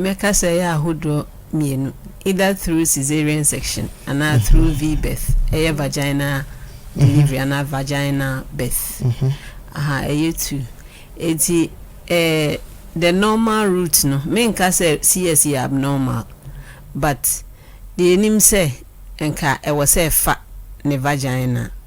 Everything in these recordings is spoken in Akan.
Mɛka sɛ ɛyɛ ahodoɔ mmienu, either through caesarean section anaa through V-birth, ɛyɛ vaginal delivery anaa vaginal birth. Aha, ɛyɛ two. Enti eh, the normal route no, menka sɛ CS yɛ abnormal, but deɛ yɛnim sɛ nka ɛwɔ sɛ ɛfa ne vagina.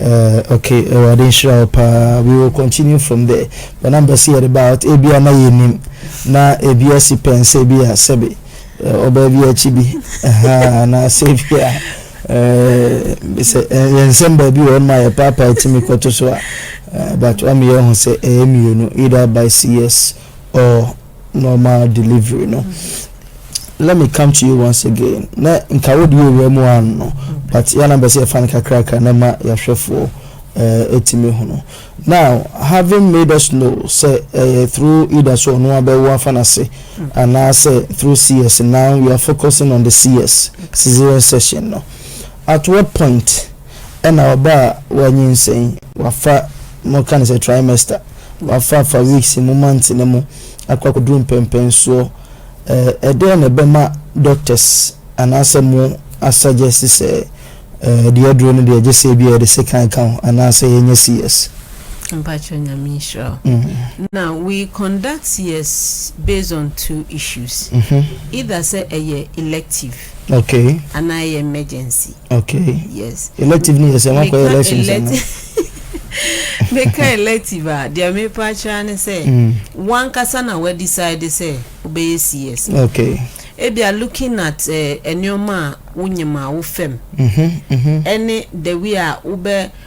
Eh ok awurade nhyira wo paa we will continue from there but na mpɛ sɛ yɛde ba out ebia na yɛnim na ebi asi pɛn sɛ bi a sɛbe eh, ɔbaa bi akyi bi ahaa anaasɛ bi a eh, sɛ eh, yɛn nsɛm baabi wɔ ɔnoma yɛ paapaa tumi kɔto so a eh, but wameyɛ ho sɛ ɛyɛ mmienu either by CS or normal delivery no let me come to you once again na nka wode yɛwura mu ano no but yɛ na bɛsɛ yɛfa no kakrakra na ma yɛahwɛfoɔ eh, ɛtumi ho no now having made us know sɛ ɛyɛ eh, through either so ɔno abɛwo afa no ase anaasɛ through cs now we are focusing on the cs cesarean session no at what point Ɛna ɔba a wanyinsɛn, wafa, moka no sɛ trimester, wafa fa weeks mu, months no mu akɔ akɔduru mpɛmpɛnsoɔ, ɛdeɛn na ɛbɛma doctors anaasɛ mo asuggest sɛ deɛ aduro no deɛ gyesɛ ebia yɛde sekan ka ho anaasɛ yɛnyɛ CS? Mpakyɛw Nyame nhyira wo. Na we conduct CS based on two issues, either sɛ ɛyɛ elective Okay. Ana ɛyɛ emergency. Okay. Yes. Elective ni yɛ sɛ wɔn akɔyɛ elections ɛna. Meka elective a deɛ mepa akyerɛ ne sɛ mm. wankasa na wa decide sɛ wobɛyɛ CS. Okay. Ebia looking at eh, nneɛma a wonyim a wofam. Mhm. Mhm. Ɛne the way a wobɛ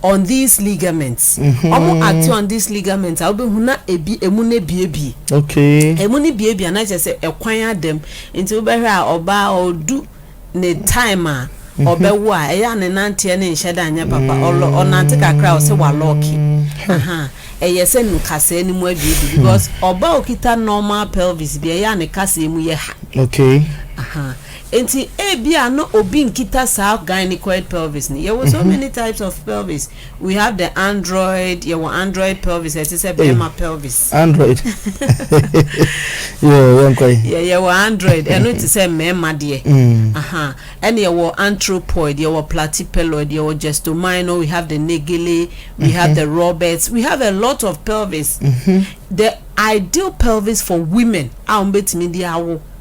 On these ligaments, wɔn ate on these ligaments a wobɛhu na ebi emu no abiebie. Okay. Emu no biebie a na kyerɛ sɛ ɛkwan ada mu. Nti wobɛhwɛ a ɔbaa ɔdu ne time a mhm. ɔbɛwo a ɛyɛ a ne nanteɛ ne nhyɛ da nyɛ papa ɔlɔ ɔnante kakra a ɔsɛ walɔɔke. Hmm. Ɛyɛ sɛ nkasɛɛ no mu abiebie hmm. because ɔbaa okita normal pelvis bi ɛyɛ a ne kasɛɛ mu yɛ ha. Okay. Aha. Enti ebia na obi nkita saa gynecoid pelvis no. Yɛwɔ so many types of pelvis. We have the android, yɛwɔ android pelvis a ɛte sɛ bɛrima pelvis. Android. Yoo, yɛnkɔ yi. Yɛ yɛwɔ android, ɛno te sɛ mmarima deɛ. Mm. Aha. Ɛna yɛwɔ anthropoid, yɛwɔ platypeloid, yɛwɔ gestomino, we have the negele, we mm-hmm. have the roberts, we have a lot of pelvis. Mm-hmm. The ideal pelvis for women a wɔn bɛtumi de awo.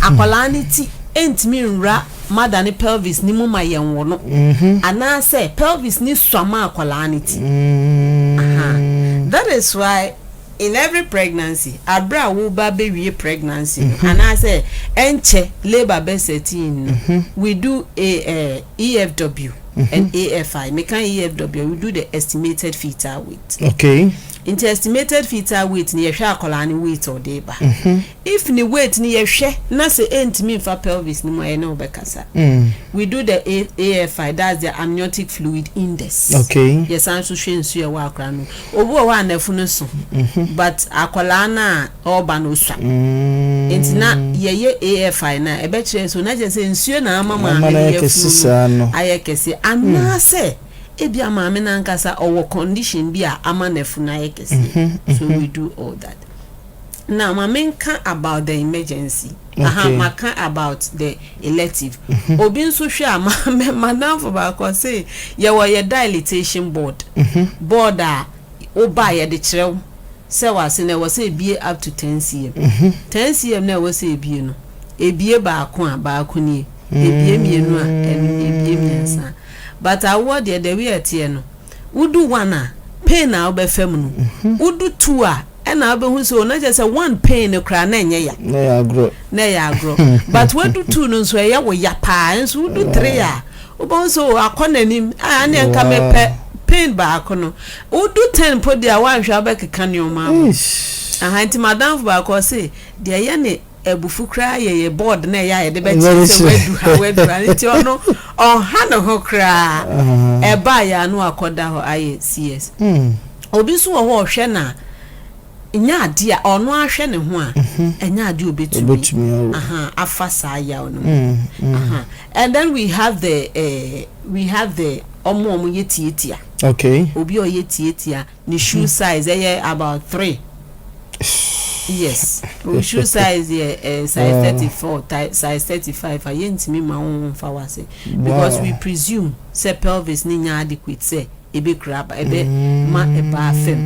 Akwadaa no ti ntumi nwura mother no pelvis no mu ma yɛnwo no, anaasɛ pelvis no sua ma akwadaa no ti. That is why in every pregnancy, abere a woreba abɛwie pregnancy no, anaasɛ ɛnkyɛ labour bɛ set in no, we do a EFW and AFI. Meka EFW a, we do the estimated fetal weight. Okay. Nti estimated fetal weight no, yɛhwɛ akwadaa no weight a ɔde reba. If ne weight no yɛhwɛ na sɛ ɛntumi mfa pelvis no mu a yɛne wo bɛkasa. We do the AFI, that's the amniotic fluid index. Okay. Yɛsan nso hwɛ nsuo a ɛwɔ akwadaa no mu. Obi wɔ hɔ a n'afu no so but akwadaa no a ɔreba no ɔsua. Nti na yɛyɛ AFI no a ɛbɛkyerɛ so na kyerɛ sɛ nsuo na ama maame no yafunu no ayɛ kɛse anaasɛ ebia maame no ankasa ɔwɔ condition bi a ama n'afu no ayɛ kɛse. So we do all that. Now ma menka about the emergency. Okay. Aha, maka about the elective. Mm-hmm. Obi nso hwɛ a madamfo baako ɔse yɛwɔ yɛ dilatation board. Mm-hmm. Board a woba yɛde kyerɛ wo sɛ wase na ɛwɔ sɛ ebie up to 10 cm. Mm-hmm. 10 cm na ɛwɔ sɛ ebie no. Ebie baako a baako nie. Ebie mmienu a ebie mmiɛnsa. But awoɔ deɛ the way ɛteɛ no Wo du one a, pain na wo bɛ fɛ mu no. Wo du two a, ɛna wo bɛ hu sɛ o, na kyerɛ sɛ one pain no koraa na ɛnyɛ ya. Na ɛyɛ agorɔ. Na ɛyɛ agorɔ. But wa du two no nso ɛyɛ wo ya paa, nso wo du three a, wo bɛ hu sɛ o, akɔ n'anim, a, ɛneɛ nka me pɛ pain baako no. Wo du ten mpo deɛ a, wa nhwɛ a wo bɛ keka nneɛma abɔ. Aha, nti m'adamfo baako ɔse, deɛ ɛyɛ ne. abufu koraa yɛ yɛ board na ɛyɛ a yɛde bɛkyerɛ sɛ wadu ha wadu ha nti ɔno ɔnha ne ho koraa ɛba a yɛa no akɔda hɔ ayɛ cs obi nso wɔ hɔ ɔhwɛ na nyɛ adeɛ a ɔno ahwɛ ne ho a ɛnyɛ adeɛ obɛtumi afa saa yaw no mu and then we have the uh, we have the ɔmo ɔmo yɛ tietia okay obi ɔyɛ tietia Ne shoe size ɛyɛ about three years wo shoe size yɛ eh, size wow. thirty four size thirty five a yɛntumi ma wo nfa wase because wow. we presume sɛ pelvis ne nya adequate sɛ ebe kura aba ebe mm. ma ɛbaa fam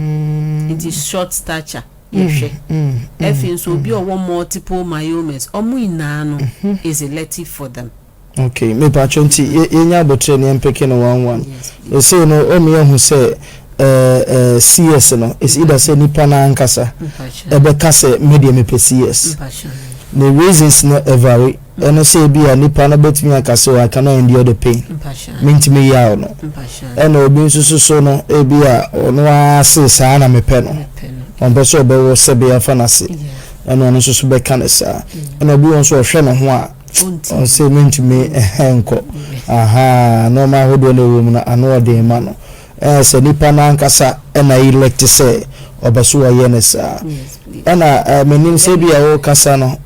nti short stature yɛhwɛ mm, mm, mm, afei nso obi ɔwɔ multiple myomas ɔmo nyinaa no mm-hmm. is elective for them. Ok mepakyɛw nti yɛnya aboterɛ no yɛmpeke no one one ɛsei no ɔmu yɛhu sɛ ɛɛ CS no is either sɛ nipa no ankasa ɛbɛka sɛ medeɛ mepɛ CS ne reasons no ɛvary ɛno sɛ ebi a nipa no bɛtumi aka sɛ oh, I cannot endure the pain mentumi yaw no ɛna obi nso so so no ebi a ɔno ara se saa na mepɛ no ɔmpɛ sɛ ɔbɛwɔ sɛbe afa no ase ɛna ɔno nso so bɛka no saa ɛna obi wɔ nso ɔhwɛ ne ho a Ɔnte. Ɔse mentumi ɛhɛn nkɔ. Ahaa, nnoɔma ahodoɔ no a ɛwɔ mu no ano yɛ den ma no. Ɛyɛ sɛ nipa no ankasa na elect sɛ ɔbɛ so ɔyɛ no saa. Ɛna menim sɛ ebia wokasa no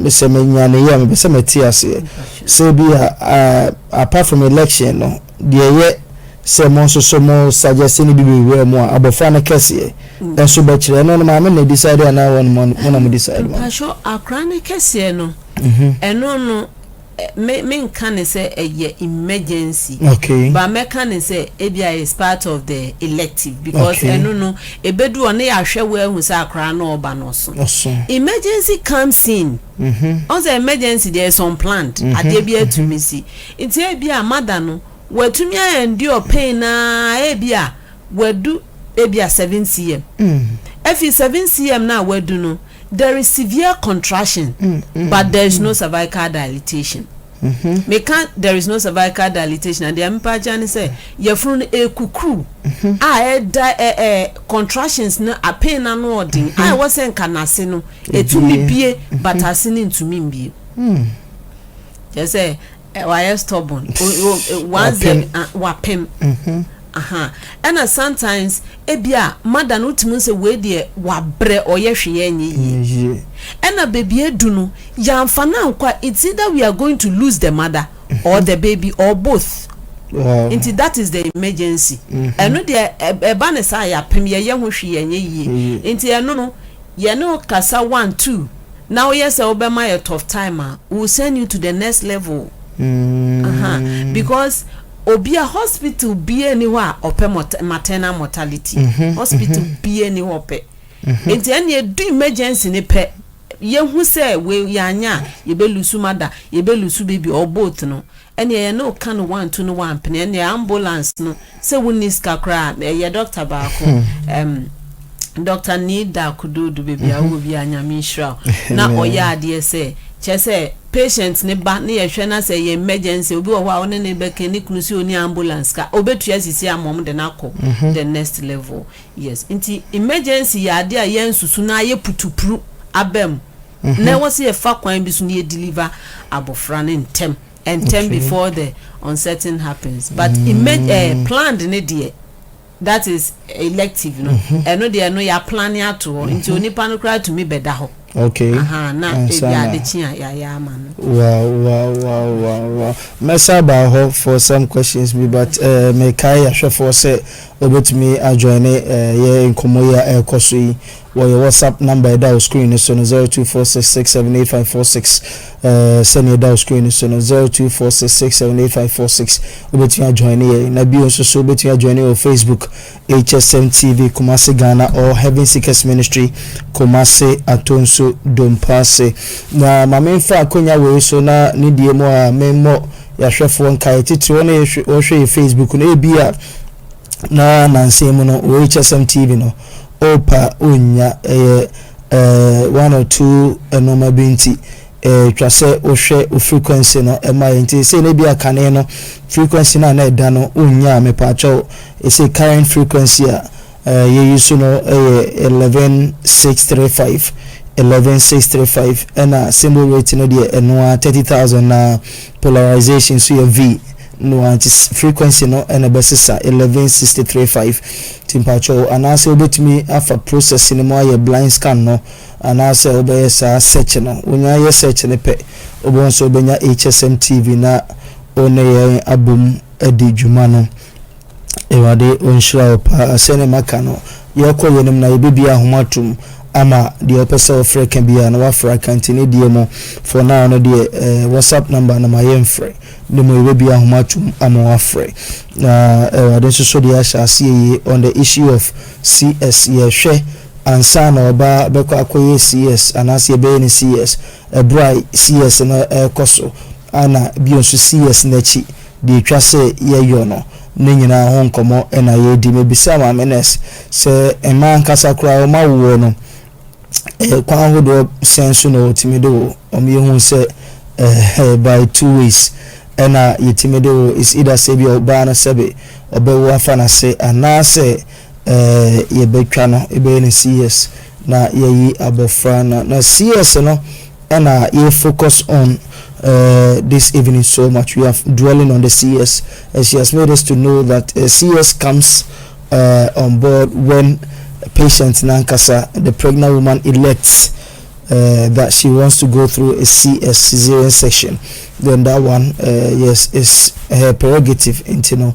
sɛ menyaneeɛ a mepɛ sɛ mete aseɛ sɛ ebia apart from election no deɛ ɛyɛ sɛ mo nso so mo suggest no bi bɛwura mu a abɔfra no kɛseɛ nso bɛkyerɛ ɛno no maame na decide anaa wɔn mo na mo decide ma no. Mpakyɛw akora no kɛseɛ no. ɛno no me menka ne sɛ ɛyɛ emergency okay. but mɛka ne sɛ ebia is part of the elective because okay. ɛno no ebedu hɔ ne yɛahwɛ wo ahu sɛ akora no ɔba no ɔso emergency comes in mm -hmm. ɔn sɛ emergency deɛ is unplanned mm -hmm. adeɛ bi atumi si nti ebia mada no watumi a endure pain na ebia wadu ebia seven cm mm. efi seven cm na wadu no There is severe contraction but there is no cervical dilatation. Meka there is no cervical dilatation a, deɛ mepa akyɛ ne sɛ yafunu no ɛrekukuru a ɛda ɛɛ contractions no apee no ano ɔden a ɛwɔ sɛ nka n'ase no ɛtumi bue but ase no ntumi mbue. Kyerɛ sɛ. Wayɛ stubborn. Wapem. Wapem. Mhm. Aha. Ɛna sometimes ebi a mother no wotumi sɛ wei deɛ wabrɛ ɔyɛ hweyɛ nyɛ yie. Nyɛ yie. Ɛna baby adu no yɛanfa no ankɔ a it's either we are going to lose the mother or the baby or both. Wow. Nti that is the emergency. Ɛno deɛ ɛba no saa a yɛapem yɛyɛ ho hwee yɛnyɛ yie. Nti ɛno no yɛne wo kasa one two. Na woyɛ sɛ wobɛma yɛ tough time a we will send you to the next level ahaa because obi a hospital biaa ni hɔ a ɔpɛ maternal mortality hospital biaa ni hɔ ɔpɛ nti ɛne ɛdu emergency ne pɛ yɛhu sɛ we yɛanya a yɛbɛlusu mada yɛbɛlusu baby or both no Ɛneɛ yɛne wo ka no wantu no wampene ɛneɛ ambulance no sɛ wo nni sika koraa a ɛyɛ doctor baako ɛm Doctor Nida Kududu baabi a wowɔ biaa Nyame nhyira wo na ɔyɛ adeɛ sɛ kyerɛ sɛ patient no ba ne yɛhwɛ na sɛ ɛyɛ emergency obi wɔ hɔ a wo ne no bɛka ne kunu sɛ ɔnni ambulance ka ɔbɛtua sisi ama wɔn de no akɔ the next level Yes, nti emergency yɛ adeɛ a yɛn susu no ayɛ putupru aba mu, na ɛwɔ sɛ yɛfa kwan bi so na yɛ deliver abɔfra no ntɛm ntɛm before the uncertain happens, but emerg eh planned no deɛ, that is elective no, ɛno deɛ ɛno yɛ aplane ato hɔ, nti onipa no koraa tumi bɛda hɔ. Okay. Ahaa na Ansa ebi na- ade kye a yɛayɛ ama no. Wow, wow, wow, wow, wow. Mɛsa aba hɔ for some questions bi but eh, mekae ahwɛfoɔ sɛ wɔbɛtumi ajoine eh, yɛ nkɔmmɔ yi a ɛrekɔ so yi wɔ yɛ WhatsApp number a ɛda wo screen no so no 0246678546 eh, sɛnea ɛda wo screen no so no 0246678546 wobɛtumi ajoine yɛ na bio nso so wobɛtumi ajoine wɔ Facebook HSM TV Kumasi Ghana or Heaven Seekers Ministry Kumasi Atonsu Dompaase. Na ma memfa akonya wei so na ne deɛ mu a memmɔ yɛahwɛfoɔ nkaeɛ titire wɔn a wɔhwɛ yɛ Facebook no ebi a na nansen mu no wɔ HSM TV no opa onnya ɛyɛ eh, one or two nnoɔma bi nti Ɛtwa sɛ wohwɛ wo frequency no ma yɛ nti sei no ebia kane no frequency no a na ɛda no wonyaa mepaakyɛw ɛsei current frequency a yɛ use no yɛ eleven six three five eleven six three five ɛna symbol rate no deɛ ɛno ara thirty thousand na polarization nso yɛ V no ara nti frequency no ɛna ɛbɛsesa eleven sixty three five nti mpaakyɛw anaasɛ wobɛtumi afa process no mu ayɛ blind scan no Anaasɛ wobɛyɛ saa search no. Wonya yɛ search no pɛ, wobɛhu sɛ wobɛnya HSM TV na wo ne yɛn abom adi dwuma no. Awurade ɔnhyira wo paa. Sɛdeɛ maka no, yɛrekɔ yɛn anim na yɛbɛbue ahoma atom ama deɛ wopɛ sɛ wofrɛ ka biara no woafrɛ aka. Nti ne deɛ mu for now no deɛ eh, WhatsApp number no ma yɛmfrɛ. Ne mu yɛbɛbue ahoma atom ama woafrɛ. Na Awurade nso so deɛ ahyɛ aseɛ yie on the issue of CS yɛhwɛ ansa na ɔba bɛkɔ akɔyɛ CS anaasɛ yɛbɛyɛ no CS, ɛberɛ a CS no rekɔ so na bio nso CS no akyi, deɛ ɛtwa sɛ yɛyɔ no, ne nyinaa ho nkɔmmɔ na yɛredi. Mebisaa Maame Nurse sɛ mmaa ankasa koraa wɔn awoɔ no, kwan ahodoɔ sɛn so na wɔtumi de wo? Wɔn yɛ huu sɛ by two ways na yɛtumi de wo, it's either sɛ ebia ɔbaa no sɛbe ɔbɛwo afa n'ase anaasɛ yɛbɛtwa no yɛbɛyɛ no CS na yɛayi abɔfra no na CS no na yɛ focus on this evening so much we are dwelling on the CS and she has made us to know that CS comes on board when patient no ankasa the pregnant woman elects that she wants to go through a CS cesarean section then that one yes is her prerogative nti no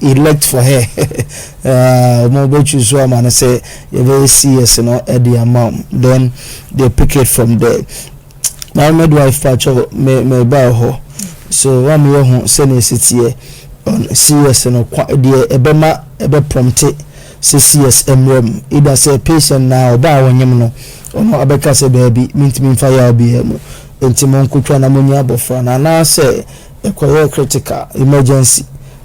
elect for her um wɔn bɛ choose so ama no sɛ yɛbɛyɛ CS no ɛde ama wɔn then they pick it from there my midwife pakyɛ me me ba hɔ so wɔn a meyɛ ho sɛnea esi teɛ on CS no kwa deɛ ɛbɛma ɛbɛ prompte sɛ CS mmerɛ mu either sɛ patient na ɔbaa a wɔnyem no ɔno abɛka sɛ daabi mintumi nfa yaw biara mu nti mo nkotwa na mo nya abɔfra no anaasɛ Ɛkɔyɛɛ critical, emergency,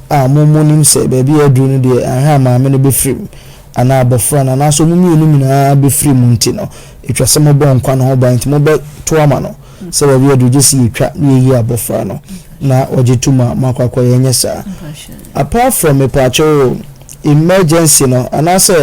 a mo mo nim sɛ baabi a aduru no deɛ anhwɛ a maame no bɛfirim anaa abɔfra no anaasɛ wɔn mmienu nyinaa bɛfirim nti no ɛtwa sɛ mobɔ nkwa no ho ban nti mobɛto ama no sɛ baabi a aduru gye sɛ yɛtwa na yɛyi abɔfra no na ɔgye tom a moakɔ akɔyɛ ɛnyɛ saa apart from mepaakyɛw o emergency no anaasɛ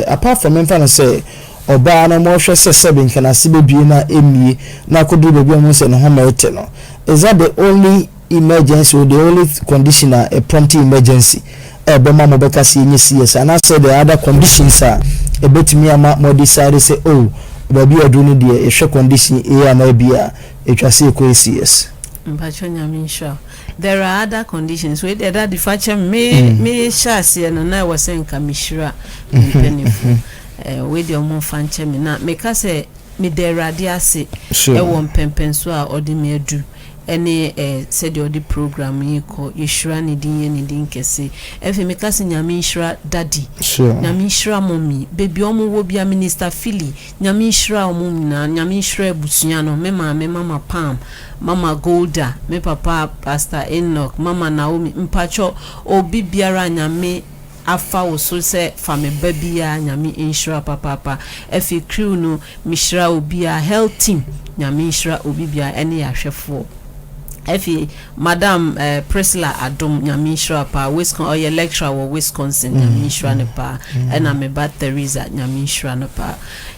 apart from memfa no sɛ ɔbaa no ma ɔhwɛ sɛ sɛbe nka n'ase bebue no a emmue na akodur baabi a ohu sɛ ne homa rete no. Is that the only emergency or the only condition a a prompting emergency a ɛbɛma mobɛka sɛ yɛnyɛ CS anaasɛ there are other conditions a ɛbɛtumi ama mo adecide sɛ oh baabi a aduru no deɛ yɛhwɛ condition A anaa B a ɛtwa sɛ yɛkɔ yɛ CS? Mpakyɛ Nyame nhyira wo. There are other conditions wei deɛ daddy fa kyɛ me me hyɛ aseɛ no na ɛwɔ sɛ nka me hyira me mpaninfoɔ. Eh, wei deɛ ɔmo nfa nkyɛ me, na meka sɛ meda Awurade ase Sure. ɛwɔ mpɛmpɛnsoɔ a ɔde me adu ɛne eh, sɛdeɛ ɔde program yi rekɔ, yɛhyira ne din yɛ ne din kɛse. Ɛfei meka sɛ Nyame nhyira Daddy, Sure. Nyame nhyira Mummy, baabi a ɔmo wɔ biara, Minister Philly, Nyame nhyira ɔmo nyinaa, Nyame nhyira abusua no, me maame Mama Pam, Mama Golda, me papa Pastor Enoch, Mama Naomi, mpakyɛw obi biara a Nyame afa wo so sɛ fa me ba biaa nyame nhyira papaapa afei crew no mehyira obiaa health team nyame nhyira obi biaa ɛne yɛahwɛfoɔ afei madam eh Priscilla Adom nyame nhyira paa Wiscon ɔyɛ lecturer wɔ Wisconsin nyame nhyira no paa ɛna me ba Theresa nyame nhyira no paa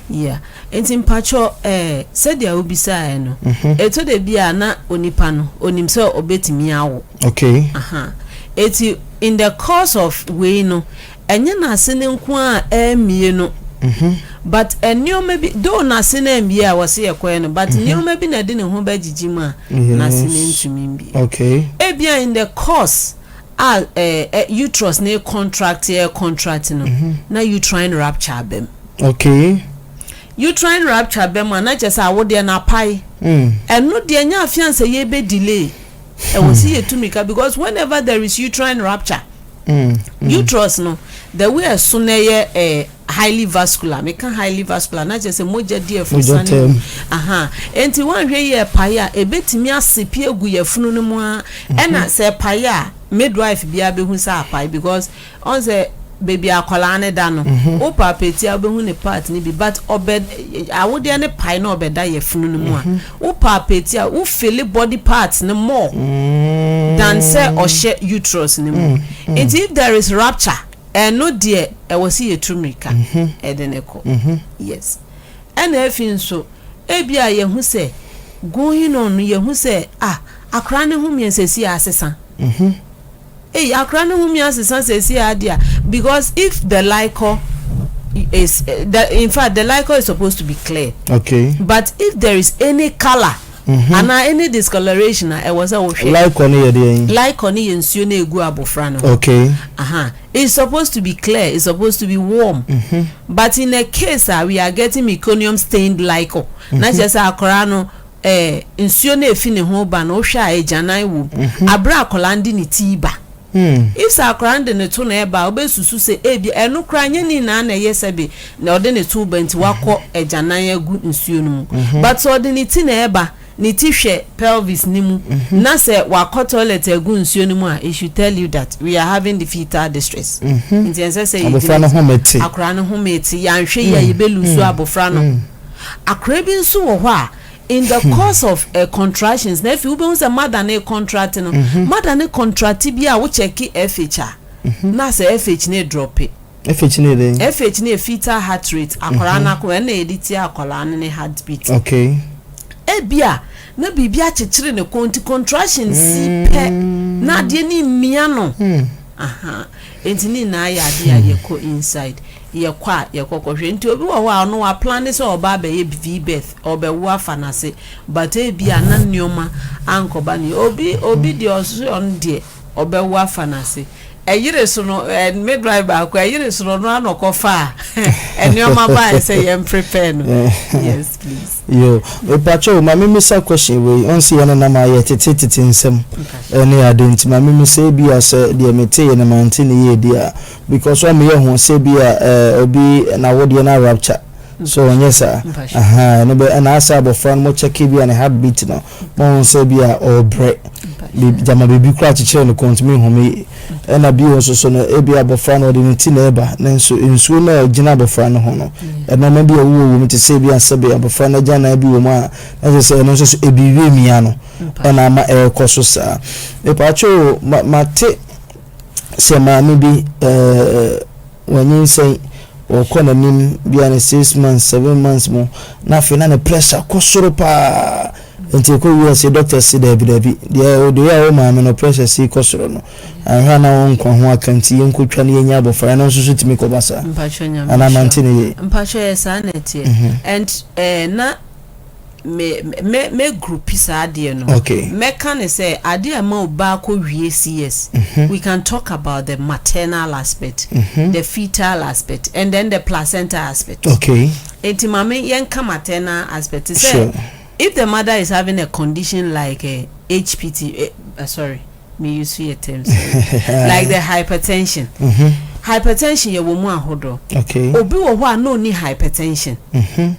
yeah nti mpakyɛw eh sɛdeɛ wo bisaɛ no ɛtɔ da biaa na onipa no onim sɛ ɔbɛtumi awo okay aha ɛti In the course of wei no, ɛnyɛ n'ase no nko ara a ɛremmie no, but nneɛma bi, though n'ase no ammie a wɔse ɛkɔɛ no, but nneɛma bi na ɛde ne ho bɛgyegye mu a n'ase no ntumi mmie. Ebia in the course a uterus no recontract recontract no, na uterine rupture aba mu. Uterine rupture ba mu a, na kyerɛ sɛ awodeɛ no apae. Ɛno deɛ, ɛnyɛ afeansa yi ɛbɛdelay ɛwɔ si yɛ tumi ka because whenever there is uterine rupture mm, mm. uterus no the way ɛso na ɛyɛ eh, highly vascular meka highly vascular na kyerɛ sɛ mogya di ɛfunu sani mu aha nti wɔnhwɛ yi ɛpae a ebetumi ase pie gu yɛ funu no mu a ɛna sɛ ɛpae a midwife biara behu sɛ apae because. Ɔn sɛ baby akwadaa no da no wo palpate a wobɛhu ne part no bi but ɔbɛ awodeɛ no pae na ɔbɛda yɛfunu no mu a wo palpate a wo feel body parts no more than sɛ ɔhyɛ uterus no mu nti if there is rupture ɛno deɛ ɛwɔ sɛ yɛtu mmirika ɛde no kɔ yes ɛna afi nso ebi a yɛhu sɛ going on no yɛhu sɛ ah akwadaa no ho mmiɛnsɛsi asesa. Ei akora no wumi asesa sɛsi a dia because if the likɔ is the in fact the likɔ is supposed to be clear okay but if there is any colour mm -hmm. ana any discoloration a ɛwɔ sɛ wohwɛ likɔ no yɛ deɛ yi likɔ no yɛ nsuo no egu abofra no okay aha uh -huh. it's supposed to be clear it's supposed to be warm mm -hmm. but in a case a we are getting meconium stained likɔ mm -hmm. na kyerɛ sɛ akora no ɛɛ, nsuo no ɛfi ne ho reba no, wohwɛ a agyanan wɔ mu. Aberɛ a akwadaa no de ne ti reba. If sɛ akwadaa no de ne to na ɛreba a, wobɛsusu sɛ ebia ɛno koraa nyɛ ne nyinaa na ɛyɛ sɛbe na ɔde ne to reba nti wakɔ agyanan agu nsuo no mu. But sɛ ɔde ne ti na ɛreba, ne ti hwɛ pelvis no mu, na sɛ wakɔ toilet agu nsuo no mu a, it should tell you that we are having the fetal distress. Nti ɛnsɛ sɛ yɛgyina gyina. Abɔfra no home te. Akwadaa no home te. Yɛanhwɛ yie a, yɛbɛlusu abɔfra no. Akora bi nso wɔ hɔ a in the course of eh, contractions na afei wobɛhu sɛ mother no recontract no, mhm. mother no contract bi a wo check FH a, mhm. na sɛ FH no drope. FH no yɛ FH no yɛ fetal heart rate, akwaraa no mhm. akoma, ɛna yɛde tie akwaraa no ne heartbeat. Okay. Ebi a, na biribi akyekyere ne kɔn nti contraction si mm. pɛ na adeɛ no mmia no. Hmm. Aha. Nti ne nyinaa yɛ adeɛ a hmm. yɛkɔ inside. yɛkɔ a yɛkɔ kɔhwɛ nti obi wɔ hɔ a ɔno wa plane sɛ ɔba abɛyɛ vbirth ɔbɛwo afa nase but ebia na nnoɔma ankɔba ne obi obi deɛ ɔse ɔno deɛ ɔbɛwo afa nase ɛyere so no ɛ midwife baako ɛyere so no ɔno ano kɔ fa a nnoɔma ba ayɛ sɛ yɛn prepare no yes please. yo epakyɛw ma me misa question wei ɔnsi yɛn nenam ayɛ tete tete nsɛm ɛne ade nti ma me misa ebia sɛ deɛ mete yɛ no mante ne yie deɛ a Because wɔn yɛ ho sɛ bi a eh obi n'awodeɛ no arupture so ɔnyɛ saa ahaa ɛno bɛ ɛna asɛ abɔfra no mo check bi a ne heart beat no mo ho sɛ bi a ɔɔbrɛ bi gyama biribi koraa kyekyere ne kɔn ntumi nhu me ɛna bio nso so no ebi a abɔfra no ɔde ne ti na ɛba ne nso nsuo no a ɛgyina abɔfra no ho no ɛnoɔma bi a ɛwowɔ wɔ mu te sɛ bi a sɛbe abɔfra no agyannan bi wɔ mu a na kyerɛ sɛ ɛno nso so ebi wiemia no ɛna ama ɛɛkɔ so saa mepaakyɛw o ma mate sɛ maame bi ɛɛ wanyinsɛn ɔkɔ n'anim bia ne six months seven months mu na afei na ne pressure kɔ soro paa nti ɛkɔ wie ɛsɛ doctor si daabi daabi deɛ ɔde yɛ a wo maame no pressure si kɔ soro no ahwɛ a na wɔn nkwa ho aka nti yɛn kɔtwa ne yɛnya abɔfra ɛno nso so tumi kɔba saa anaa mante ne yie mpakyɛ yɛ saa na ɛteɛ mhm. and ɛɛ eh, na me mɛ mɛ groupi saa adeɛ no okay. mɛka ne sɛ adeɛ a ɛma obaa kɔ wie CS mm -hmm. we can talk about the maternal aspect mm -hmm. the fetal aspect and then the placenta aspect okay. nti maame yɛnka maternal aspect sɛ sure. if the mother is having a condition like uh, eh, HPT uh, eh, uh, sorry Me use yɛ terms like the hypertension. Hypertension yɛwɔ mu ahodoɔ. Obi wɔ hɔ a na ɔnni hypertension.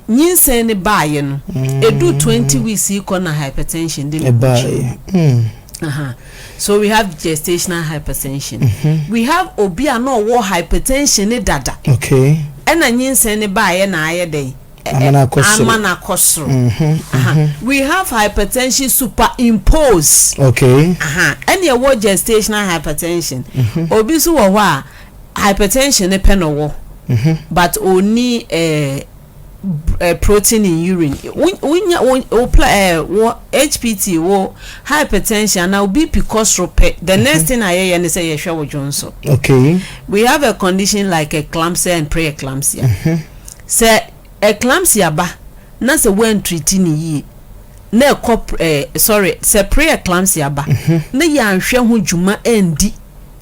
Nyinsɛn no baeɛ no, ɛduu 20 weeks yi kɔ na hypertension de ne ho kyerɛɛ. So we have gestational hypertension. We have obi a na ɔwɔ hypertension no dada. Ɛna nyinsɛn no baeɛ na ayɛ dɛn? Amana akɔ soro. Amana akɔ soro. We have hypertension superimposed. Okay. Aha. Ɛne ɛwɔ gestational hypertension. Obi nso wɔ hɔ a, hypertension ne pɛ na ɔwɔ. But ɔni eh, uh, protein in urine wonya wo uh, wo hpt wo hypertension ana wo bp kɔ soro pɛ the mm -hmm. next thing ayɛyɛ ne sɛ yɛhwɛ wo dwon so okay we have a condition like eclampsia and preeclampsia mm -hmm. Sɛ eclampsia ba na sɛ woantriti no yie na ɛkɔ eh, sorry, sɛ pre-eclampsia ba na yɛanhwɛ ho dwuma andi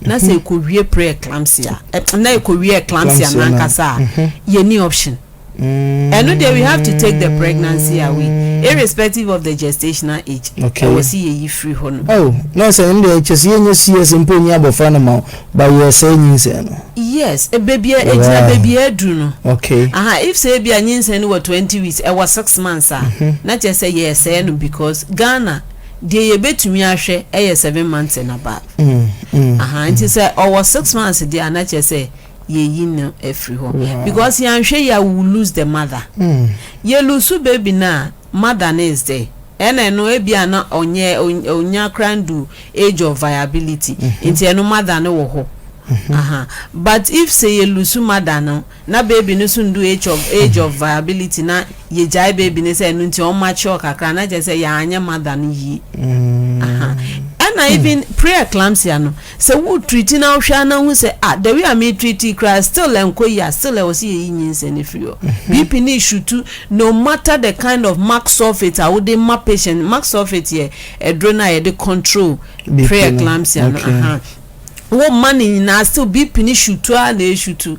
na sɛ ɛkɔwie pre-eclampsia eh, na ɛkɔwie eclampsia Eclampsia no- nankasa a, yɛni option. Ɛno deɛ we have to take the pregnancy away irrespective of the gestational age. Okay. Ɛwɔ se yɛyi firi hɔ nom. Oh, nurse ɛno deɛ kyɛ sɛ yɛnyɛ CS mpo nyi abɔfra no ma wo. But yɛ sɛɛ nyinsɛn no. Yes baabi a ɛgyina baabi a aduru no ahaa if sɛ ebia nyinsɛn no wɔ twenty weeks ɛwɔ six months a na kyerɛ sɛ yɛ sɛɛ no because Ghana deɛ yɛ bɛtumi ahwɛ ɛyɛ seven months and above ahaa nti sɛ ɔwɔ six months deɛ a na kyerɛ sɛ yɛ yi no afiri hɔ because yɛn anhwɛ yi a we will lose the mother yɛ lose baby no a Madanese dɛ, ɛna ɛno ebia na ɔnyɛ onnya koraa nndu age of viability, ntsi ɛno mother no wɔ hɔ ahaa. But if sɛ yelusu mother no na baby no so nndu age of age of viability na yegyae baby no sɛ ɛno ntsi ɔmmature kakra a, na kyerɛ sɛ yɛannyɛ mother no yie ahaa. Ɛna even pre-eclampsia no, Sɛ wo treati na wo hwɛ a na hu sɛ ah the way a me treati koraa still ɛnkɔ yie a still ɛwɔ sɛ yɛyi nyinsɛn no firi hɔ. BP no resutu no matter the kind of max sulfate a wode ma patient no, max sulfate yɛ aduro no a yɛde control preeclampsia no aha, wo ma no nyinaa still BP no sutu ara na ɛresutu.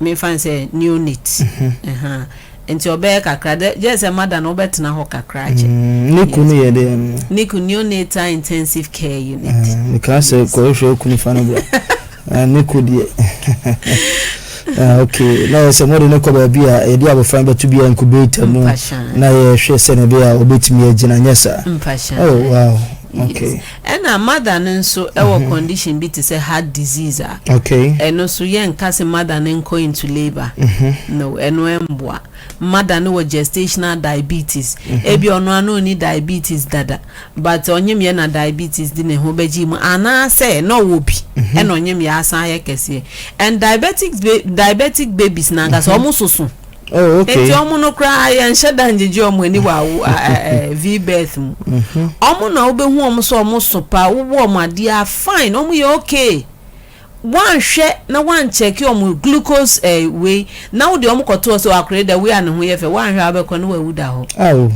Memfa no sɛ neonate ɛhaa nti ɔbɛyɛ kakra dɛ gyɛɛ sɛ mother no wobɛtena hɔ kakra akyɛ. Mm, NICU no yɛ dɛ no. NICU, Neonatal Intensive Care Unit. Ah, mekaa sɛ Yes. kɔhwehwɛ wo kunu fa no bra. Ah, NICU deɛ. Ah, okay. Na yɛ sɛ mode no kɔ baabi a yɛde abɔfra no bɛto bi a incubator mu Mpashaa. na yɛhwɛ sɛnea ɛbɛyɛ a ɔbɛtumi agyina, nyɛ saa? Mpashaa. Oh, wow. Yes. Okay. Ɛna mother no nso wɔ condition bi te sɛ heart disease a, ɛno nso yɛnka se mother no nkɔ into labour, no, ɛno ɛmboa. Mother no wɔ gestational diabetes, ebia ɔno ara na ɔnni diabetes dada, but ɔnyemyɛ na diabetes de ne ho bɛgyee mu, anaasɛ na ɔwɔ bi ɛna ɔnyemyɛ asan ayɛ kɛseɛ. And diabetic babies no ankasa, wɔn soso. Oh, okay. Enti ɔmo no koraa yɛnhyɛ da ngyegye ɔmo ani wɔ awo V-birth mu. Mhm. Ɔmo na wobɛhu ɔmo sɛ ɔmo so paa, wowɔ ɔmo a, they are fine, ɔmo yɛ okay. Woanhwɛ na woankyɛke ɔmo glucose eh, wei, na wode ɔmo kɔto hɔ sɛ akora yi da wei a ne ho yɛ fɛ, woanhwɛ a wobɛkɔ na wawu da hɔ. Aw.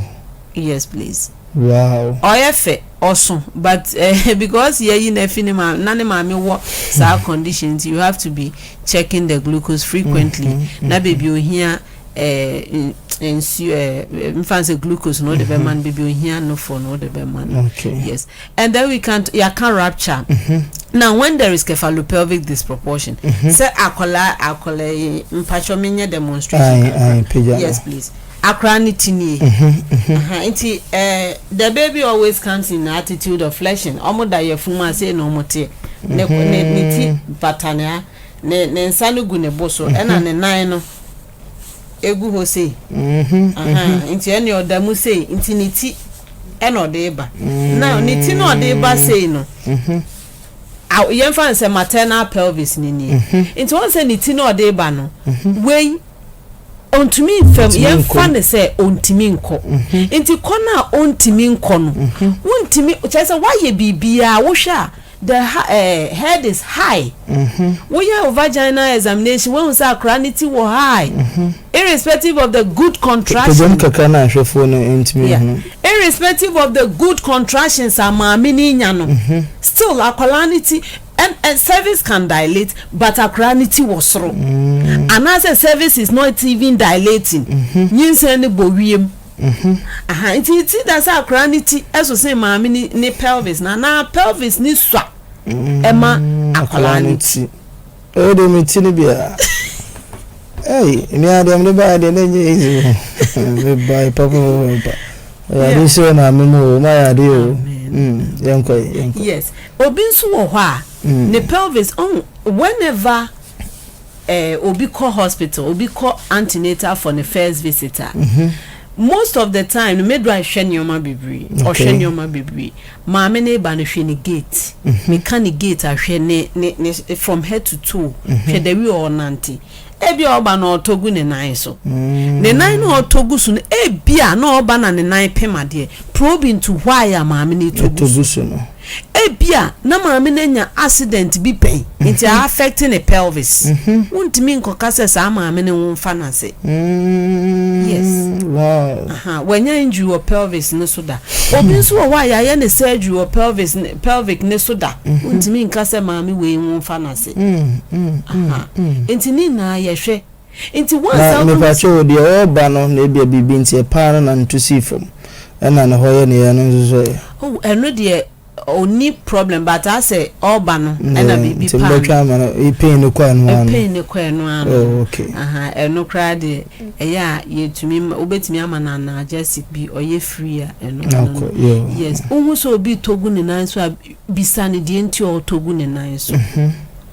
Yes please. Wow. Ɔyɛ fɛ, ɔso but eh, because yɛayi no afi ne maame, na ne maame wɔ saa condition nti you have to be checking the glucose frequently, mm-hmm, na baabi mm-hmm. ohia eh, nsuo eh, mfa sɛ glucose na wode mm-hmm. bɛma no baabi ohia nofo na wode bɛma no yes and then we can yɛaka rapture now when there is cephalopelvic disproportion sɛ akwadaa akwadaa yi mpatsɔ menyɛ demonstration yes please. Akora no ti nie ahaa nti eh the baby always comes in the attitude of fleshing ɔmo da yafunu mu a sei na ɔmo teɛ ne ko ne ne ti bata ne a ne ne nsa no gu ne bo so ɛna ne nan no egu hɔ sei ahaa nti ɛne ɔda mu sei nti ne ti ɛna ɔde ba na ne ti na ɔde ba sei no yɛmfa no sɛ maternal pelvis ne nie nti wɔn sɛ ne ti na ɔde ba no wei Ontumi mfa mu. Yɛmfa no sɛ ontumi nkɔ. Nti kɔ no a ontumi nkɔ no, wontumi, kyerɛ sɛ woayɛ biribiara, wohwɛ a, the head is high. Woyɛ wo vaginal examination, woahu sɛ akwadaa no ti wɔ high, irrespective of the good contractions. Pagya mu kakra na ahwɛfoɔ no ntumi nhunu. Irrespective of the good contractions a maame no renya no, still akwadaa no ti. And and cervix can dilate but akwadaa no ti wɔ soro anaasɛ cervix is not even dilating nyinsɛn no bɔ wiem aha nti ti da sɛ akwadaa no ti ɛso sen maame ne ne pelvis na anaa pelvis ne sua ɛma akwadaa no ti. ɛyɛ de mi ti no biara ɛyi nua deɛ mi de ba yɛ deɛ ne nye easy o mi ba yɛ papa o mi ba ɛyɛ ade sɛ maame mu o ma yɛ ade o yɛn kɔ yɛn kɔ. yes. Obi nso wɔ hɔ a ne pelvis oh whenever eh, obi kɔ hospital obi kɔ antenatal for ne first visit a most of the time no midwife hwɛ nneɛma bebree ɔhwɛ nneɛma bebree maame ne ba no hwɛ ne gate meka ne gate ahwɛ ne ne ne from head to toe hwɛ the way ɔnante ebi a ɔba na ɔtɔ gu ne nan so ne nan na ɔtɔ gu so no ebi a na ɔba na ne nan pem adeɛ probe into why a maame no ɛtɔ gu so no. Ebia na maame no anya accident bi pɛn nti a affect ne pelvis. Wontumi nkɔka sɛ saa maame no nwo mfa no ase. Yes. Aha, wanya injury wɔ pelvis no so da. Obi nso wɔ hɔ a yɛayɛ ne surgery wɔ pelvis, pelvic no so da. Wontumi nka sɛ maame wei nwo mfa no ase. Aha. Nti ne nyinaa yɛhwɛ. Nti woansan Na wohu mepatse sɛ. wo, deɛ ɔɔba no na ebia biribi nti ɛpaa no na ne to sii fam, ɛna ne hɔ yɛ ne yɛɛ no nso so ɛ. Oh, ɛno deɛ ɔnni problem but asɛ ɔɔba no ɛna Deɛ biribi nti paa no. mobɛtwɛn ama no, eh, pain no kɔ ɛno ara no. Pain no kɔ ɛno ara no. Oh, okay. Ahaa, ɛno koraa deɛ ɛyɛ a yɛtumi ma, wobɛtumi ama no analgesic bi, ɔyɛ free a ɛno Na ano ɔkɔ, no. yo. Yes, wohu sɛ obi retɔ gu ne nan so a, bisa no deɛ nti a ɔretɔ gu ne nan so.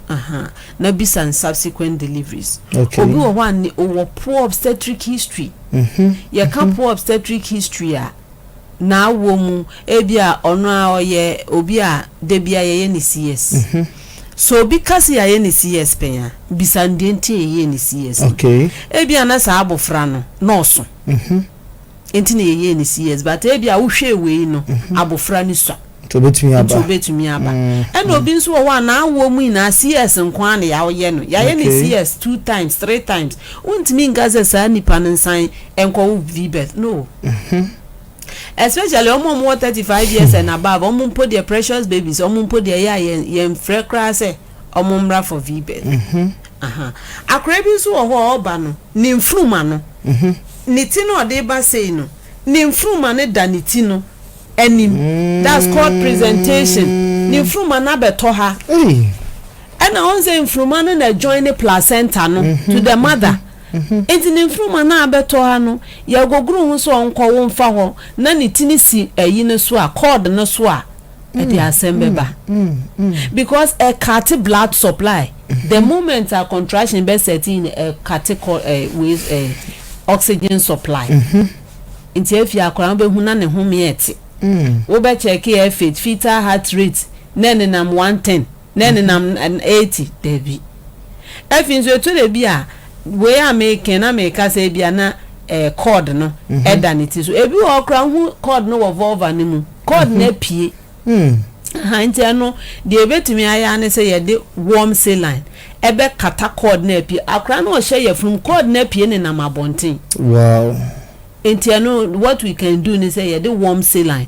Ahaa na bisa no subsequent deliveries. Obi wɔ hɔ a ne ɔwɔ poor obstetric history. Yɛka poor obstetric history a, n'awoɔ mu ebi a ɔno ara ɔyɛ obi a da biara yɛyɛ no CS. Sɛ obi ka sɛ yɛayɛ no CS pɛn a, bisa no deɛ nti a yɛyɛɛ no CS no. Ebi a na saa abɔfra no, na ɔso. Nti na yɛyɛɛ no CS but ebia wohwɛɛ wei no abofra no sua Nti obetumi aba. Nti obetumi aba. Ɛna obi nso wɔ hɔ a n'awoɔ mu nyinaa CS nko ara na yɛayɛ no. Yɛayɛ no Okay. CS two times, three times. Wontumi nka sɛ saa nipa no nsan nkɔwo VBETH. No. Especially wɔn a wɔwɔ thirty five years and above, wɔn mpo deɛ precious babies, wɔn mpo deɛ ɛyɛ a yɛn yɛnfrɛ koraa sɛ wɔmmra for VBETH. Ahaa akora bi nso wɔ hɔ a ɔba no ne nfuruma no ne ti no a ɔde ba sei no ne nfuruma no da ne ti no anim that's called presentation ne nfuruma no abɛtɔ ha ɛna ɔn sɛ nfuruma no na join ne placenta no to the mother nti ne nfuruma no abɛtɔ ha no yɛgogoro ho sɛ ɔnkɔ wo mfa hɔ na ne ti no si ayi no so a cord no so a ɛde mm, asɛm bɛba mm, mm, because ɛkate blood supply mm-hmm. the moment a contraction bɛ set in ɛkate kɔ ɛ wei ɛ oxygen supply mm-hmm. nti efi akora no bɛhu na ne ho meɛ te wobɛkyɛke ɛ fit fetal heart rate na ɛnenam one ten Na ɛnenam eti? Dabi. Afei nso ɛtɔ da bi a wei a meke na meka sɛ ebia na eh, cord no ɛda ne ti so. Ebi wɔ hɔ koraa wohu cord no wɔ vulva no mu. Cord no apue. Aha, nti ɛno deɛ yɛbɛtumi ayɛ ara ne sɛ yɛde warm saline ɛbɛkata cord no a apue. Akwadaa no ɔhyɛ yafunu mu, cord no apue nenam abɔnten. Wow. Nti ɛno what we can do ne sɛ yɛde warm saline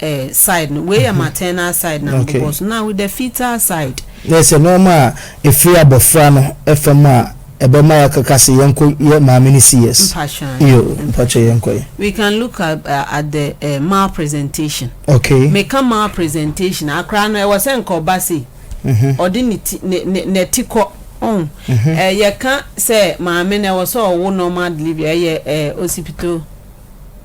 eh, side no wei yɛ mhm. maternal side na okay. mbobɔ so na with the fetal side. na ɛsɛ nneɛma a efiri abɔfra no fam a ɛbɛma yɛakaka sɛ yɛnkɔ yɛ maame no si yes. iyo mpakyɛ yɛnkɔ yɛ. we can look at, uh, at the uh, eh, mal presentation. okay. meka mal presentation akora no ɛwɔ sɛ nka ɔba sei mhm. ɔde ne ti ne ne n'ati kɔ ɔn mhm. eh, yɛka sɛ maame no ɛwɔ sɛ ɔwo normal delivery ɛyɛ eh, osipito.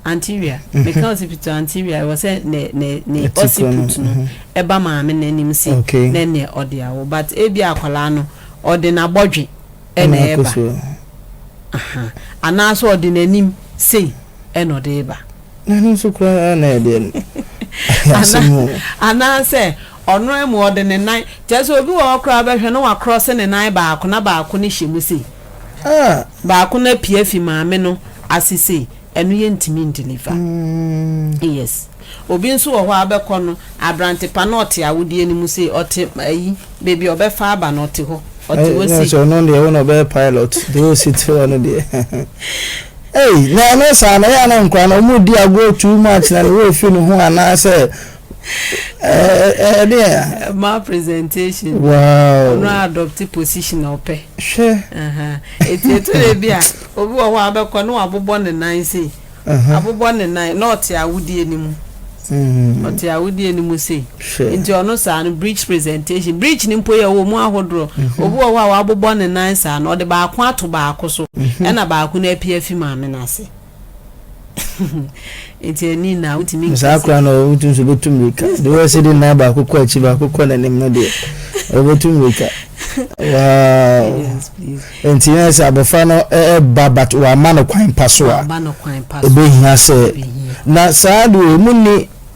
Antiwia, meka osipitu Antiwia, ewɔ sɛ ne ne ne osipitu no ɛba maame no anim se nɛ nɛ ɔde awo but ebia akwadaa no ɔde n'abɔdwe ɛna ɛɛba aha anaa sɛ ɔde n'anim sei ɛna ɔde eba. N'ano nso koraa na ɛdeɛ no. Anaa sɛ ɔno ɛmu ɔde ne nan kyerɛ sɛ obi wɔ hɔ koraa bɛhwɛ na wakorɔse ne nan baako na baako no hyɛ mu sei. Ah. Baako no apue afi maame no ase sei, ɛno yɛ ntumi ndeliver. Mm. Yes. Obi nso wɔ hɔ a wobɛkɔ no, aberante pa no ɔte awodeɛ no mu sei, ɔte ayi, baabi a ɔbɛfa aba no ɔte hɔ, ɔte hɔ sei. Ɛsɛ ɔno deɛ wo na ɔbɛyɛ pilot, deɛ ɔsi te hɔ no deɛ. Ei, na ɛno saa na ɛyɛ na nkora no, wɔn di agorɔ too much na ne wɔ fi ne ho anaasɛ ɛɛ ɛde a. ma presentation. wow ɔno adopte position ɔpɛ. hwɛ. eti etu de bi a obi wɔ hɔ a abɛkɔ na wabobɔ ne nan sei abobɔ ne nan na ɔte awudie ne mu. Mm. ɔte awodie no mu sei nti ɔno saa no bridge presentation bridge no mpo yɛ wɔ mu ahodoɔ mhm. obi wɔ hɔ a wabobɔ ne nan saa no ɔde baako ato baako so mhm. ɛna baako no apia fi maame no ase nti ɛni na wotumi nka saa koraa na wotumi nso bɛtu mmirika de wɔ sɛ de nan baako kɔ akyi baako kɔ n'anim no deɛ ɔbɛtu mmirika wow nti na sɛ abɔfra no ɛba eh, eh, but wama no kwan pa so a ɛbɛhia sɛ na saa deɛ ɔmu ni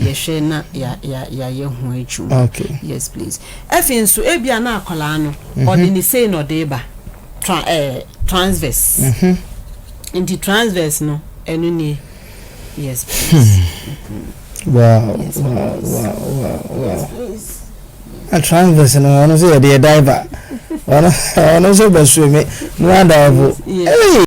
yɛhwɛ na ya ya yɛayɛ ho adwuma okay yes please ɛfei nso ebi a na akwadaa no mhm. ɔde ne sei na ɔde ba tra ɛɛ eh, transverse mhm. nti transverse no ɛno nie yes please. Hmm. wow yes, wow wow wow wow. Yes, please. a transverse no ɔno nso yɛ deɛ diver ɔno ɔno nso bɛ swim no adaivo. Yes. Hey.